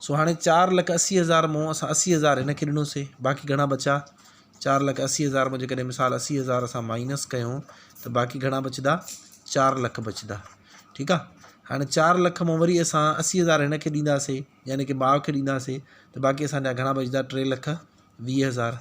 سو هاڻي چار لک اسي هزار مون اسان اسي هزار هن کي ڏنوسي باقي گهڻا بچا چار لک اسي هزار مون جيڪڏهن مثال اسي هزار اسان مائنس ڪيون ته باقي گهڻا بچدا چار لک بچدا ٺيڪ آ هاڻي چار لک مون وري اسان اسي هزار هن کي ڏينداسي يعني ڪي ماء کي ڏينداسي ته باقي اسان جا گهڻا بچدا ٽي لک ويهه هزار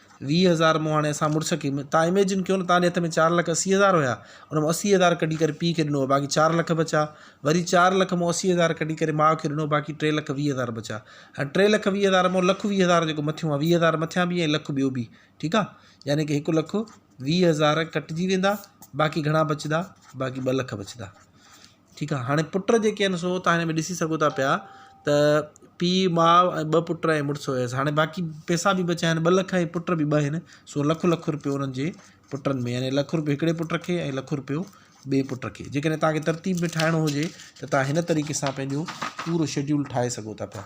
ويهه هزار مون هاڻي اسان مڙس کي تان اميجن ڪيو نه تان هٿ ۾ چار لک اسي هزار هيا ان مون اسي هزار ڪڍي ڪري پي کي ڏنو باقي چار لک بچا وري چار لک مون اسي هزار ڪڍي ڪري ماء کي ڏنو باقي ٽي لک ويهه هزار بچا هاڻي ٽي لک ويهه هزار مون لک ويهه هزار جيڪو مٿيون ويهه هزار مٿيان به ۽ لک ٻيو به ٺيڪ آ يعني ڪي هڪ لک ويهه هزار ڪٽجي ويندا باقي گهڻا بچدا باقي ٻه لک بچدا ٺيڪ آ هاڻي پٽ جيڪي آهن سو تان هن ۾ ڏسي سگهو ٿا پيا ته پي ماء ۽ ٻه پٽ ۽ مڙس هيس هاڻي باقي پيسا به بچيا آهن ٻه لک ۽ پٽ به ٻه آهن سو لک لک روپيو انهن جي پٽن ۾ يعني لک روپيو هڪڙي پٽ کي ۽ لک روپيو ٻي پٽ کي جيڪڏهن تانکي ترتيب ۾ ٺاهڻو هجي ته تان هن طريقي سان پنهنجو پورو شيڊيول ٺاهي سگهو ٿا پيا